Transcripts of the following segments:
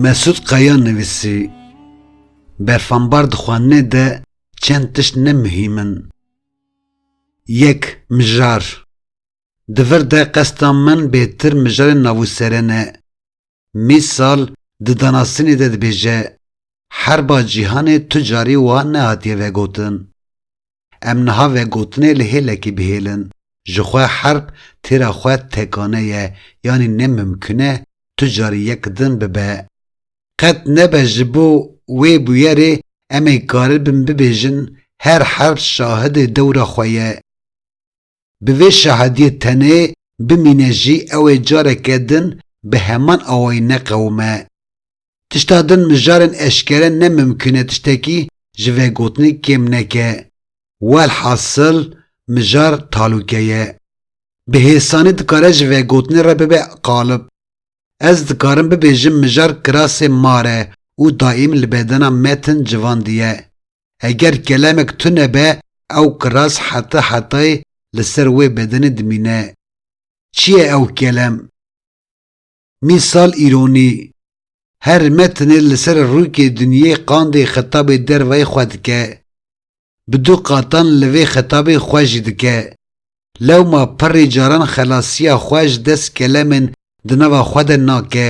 Mesûd Kaya nivîsî, Berfambar di xwarinê de çend tişt ne muhîm in. Yek, mijar. Di vir de qesta min bêtir mijarên navûserên e. Mîsal di danasînê de dibêje, Herba cîhanê tu carî wiha nehatiye vegotin. Em niha vê gotinê li hêlekî bihêlin, ji xwe herb têra xwe tekane ye yanî ne mimkun e tu carî yek din bibe. Qet nebe ji bo wê bûyerê em ê karibin bibêjin her herb şahidê dewra xwe ye. Bi vê şahidiyê tenê bimîne jî ew ê careke din bi heman awayî neqewime. Tişta din mijarên eşkere ne mimkun e tiştekî ji vegotinê kêm neke. Welhasil mijar talûke ye. Bi hêsanî dikare ji vegotinê re bibe qalib. Ez dikarim bibêjim mijar kirasê mar e û daîm li bedena me tin civandiye. Heger kelemek tune be ew kiras heta hetayê li ser wê bedenê dimîne. Çi ye ew kelem? Mîsal îronî. Her metnê li ser rûkê dinyê qandê xitabê dervayê xwe dike. Bi du qatan li vê xitabê xwe jî dike. Lewma pirrê caran xelasiya xwe ji dest kelemên di nava xwe de nake.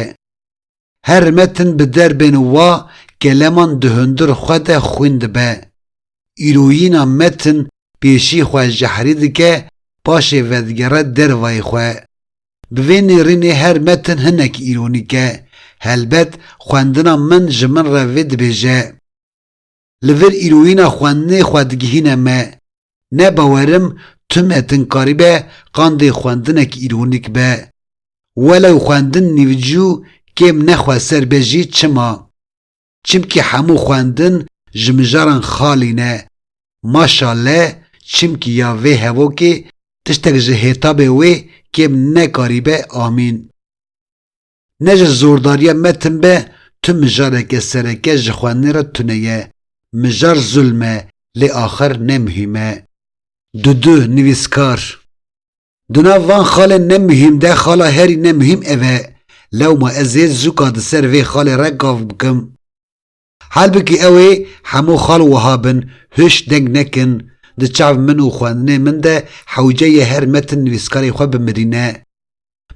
Her metin bi derbên wa keleman di hundir xwe de xwîn dibe. Îroyîna metin pêşî xwe jehrî dike, paşê vedigere dervayê xwe. Bi vê nêrînê her metin hinek îronîk e. Helbet xwendina min ji min re vê dibêje. li vir îroyîna xwendinê xwe digihîne me. Ne bawerim tu metin karîbe qandê xwendinek îronîk be. Welew xwendin nîvcû kêm nexwe ser be jî çima? Çimkî hemû xwendin ji mijaran xalî ne. Maşale çimkî ya vê hevokê tiştek ji hêtabê wê kêm nekarîbe amîn. Ne ji zordariya me tim be, tu mijareke sereke ji xwendinê re tune ye. Mijar zulm e, lê axir ne muhîm e. Dudu, nivîskar. Di nav van xalên ne muhîm de xala herî ne muhîm ev e. Lewma ez ê zûka di ser vê xalê re gav bikim. Halbikî ew ê hemû xal wiha bin, Huş deng nekin, di çav min û xwendinê min de hewce ye her metin nivîskarê xwe bimirîne.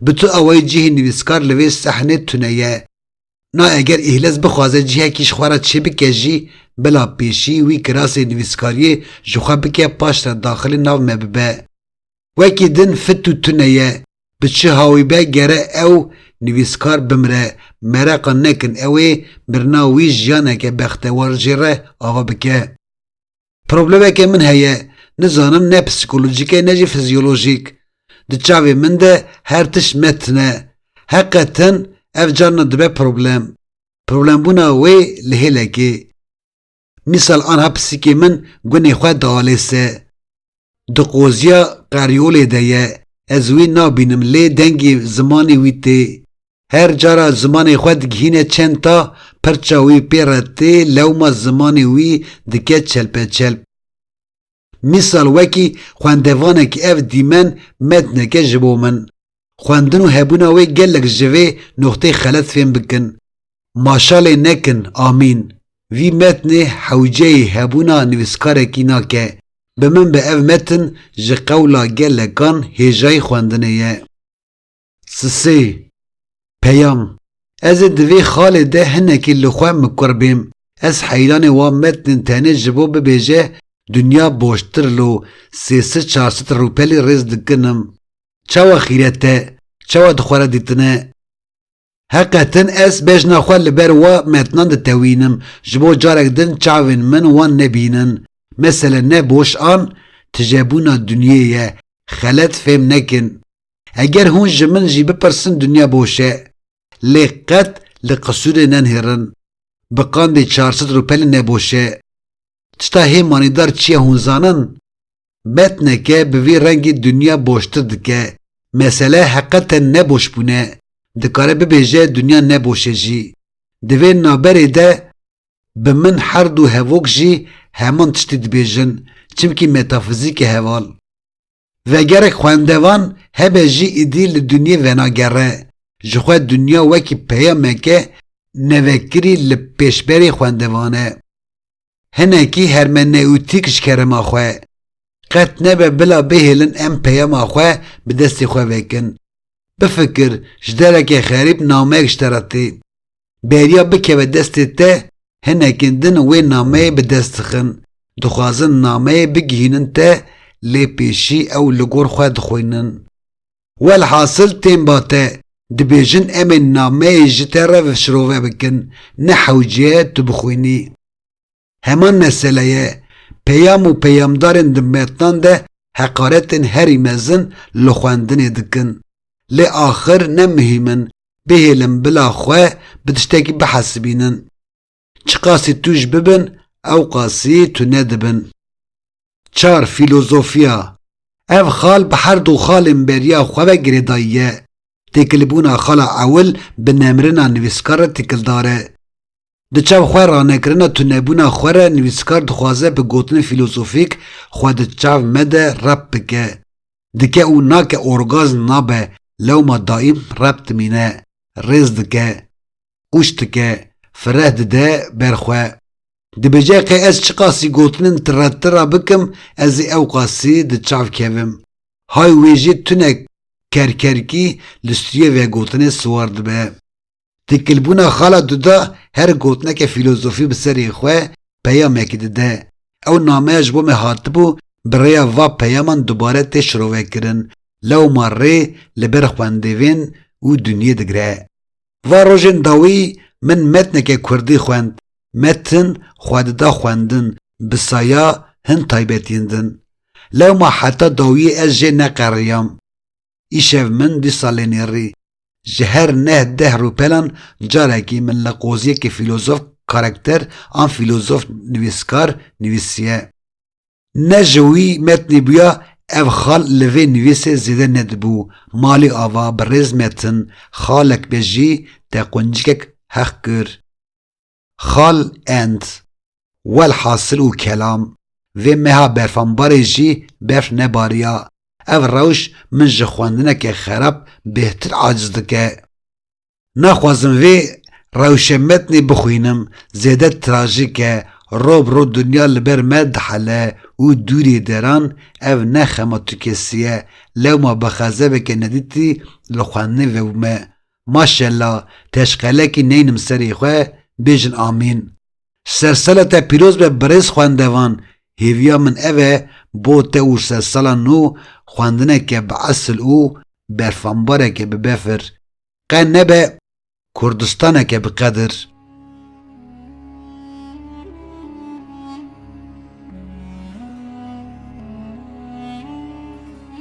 Bi tu awayî cihê nivîskar li vê sehnê tune ye. Na eger Îhlez bixwaze cihekî ji xwe re çêbike jî, bila pêşî wî kirasê nivîskariyê ji xwe bike paşre daxilî nav me bibe. Wekî din fit û tune ye. Bi çi hawî be gere ew nivîskar bimire, mereqa nekin ew ê mirina wî jiyaneke bextewar jê re ava bike. Problemeke min heye, nizanim ne psîkolojîk e ne jî fizyolojîk. Di çavê min de her tişt me tin e. Heqe tin ev carna dibe problem. Problembûna wê li hêlekê. Mîsal anha pisîkê min gunê xwe dialêse. Di qoziya qeryolê de ye, ez wî nabînim lê dengê zimanê wî tê. Her cara zimanê xwe digihîne çenta, pirça wî pê re tê lewma zimanê wî dike çelpeçelp. Mîsal wekî xwendevanekî ev dîmen metneke ji bo min. Xwendin û hebûna wê gelek ji vê nuqteyê xelet fêm bikin. Maşalê nekin, amîn. Vî metnê hewceyê hebûna nivîskarekî nake. Bi min be ev metin ji qewla gelekan hêjayî xwendinê ye. Sisê, Peyam, ez ê di vê xalê de hinekî li xwe mikur bêm, ez heyranê wan metnin tenê ji bo bibêje dinya boştir lo sê sit çar sit rûpelî rêz dikinim. Çawa xîret e, çawa di xwe re dîtine. Heqetin ez bejna xwe li ber wa metnan ditewînim ji bo carek din çavên min wan nebînin. Mesele ne boş an tijebûna dinyê ye, xelet fêm nekin. Eger hûn ji min jî bipirsin dinya boş e. Lê qet li qisûrê nenihêrin. Bi qandê çar sed rûpelî ne boş e. Tişta hê manîdar çi ye hûn zanin? Metneke bi vî rengî dinya boştir dike. Mesele heqeten ne boş bûn e. Dikare bibêje dinya ne boş e jî. Di vê naberê de bi min her du hevok jî heman tiştî dibêjin, çimkî metafizîk e heval. Vegerek xwendevan hebe jî îdî li dinyê venagere, ji xwe dinya wekî peyameke nevekirî li pêşberê xwendevan e. Hinekî hermenewtîk ji kerema xwe. Qet nebe bila bihêlin em peyama xwe bi destê xwe vekin. Bifikir, ji dereke xerîb nameyek ji te re tê. beriya bikeve destê te, hinekên din wê nameyê bi dest dixin, dixwazin nameyê bigihînin te lê pêşî ew li gor xwe dixwînin. Welhasil tên ba te, dibêjin em ê nameyê ji te re şirove bikin, ne hewce ye tu bixwînî. Heman meseleye, peyam û peyamdarên di metnan de heqaretên herî mezin li xwendinê dikin. Lê axir ne muhîm in, bihêlin bila xwe bi tiştekî bihesibînin. Çiqasî tûj bibin ewqasî tune dibin. Çar, Fîlozofiya Ev xal bi her du xalên beriya xwe ve girêdayî ye. Têkilbûna xala ewil bi nemrina nivîskar re têkildar e. Di çav xwe ranekirina tunebûna xwe re nivîskar dixwaze bi gotinên fîlozofîk xwe di çav me de rep bike. Dike û nake orgazm nabe lewma daîm rep dimîne, rêz dike, ûş dike, fireh dide ber xwe. Dibêje qe ez çiqasî gotinên tire tira bikim ez ê ewqasî di çav kevim. Hay wê jî tune kerkerkî li stûyê vegotinê siwar dibe. Têkilbûna Xala Duda her gotineke fîlozofî bi serê xwe peyamekî dide. Ew nameya ji bo me hatibû bi rêya va peyaman dubare tê şirovekirin, lewma rê li ber xwendêvên û dinyê digre. Va rojên dawî min metneke kurdî xwend, metin xwe dida xwendin bi saya hin taybetiyên din. Lewma heta dawiyê ez jê neqeriyam. Îşev min du salên êrî ji her neh deh rûpelan carekî min li qoziyekî fîlozof karekter an fîlozof nivîskar nivîsiye. Ne ji wî metnê bûya ev xal li vê nivîsê zêde nedibû, malê ava bi rêz metin, xalek be jî te quncikek heq kir. Xal end. Welhasil û kelam, vê meha berfanbarê jî berf nebariya. Ev rewş min ji xwendineke xerab bêhtir aciz dike. Naxwazim vê rewşe metnê bixwînim, zêde trajîk e, ro bi ro dinya li ber me dihele û dûrê deran ev ne xema tu kesî ye, lewma bi xezeveke nedîtî li xwendinê vebûme. Maşella teşqelekî neynim serê xwe bêjin amîn. Sersala te pîroz be birêz xwendevan, hêviya min ev e bo te û sersala nû xwendineke bi esil û berfambareke bi befir qe nebe Kurdistaneke bi qedir.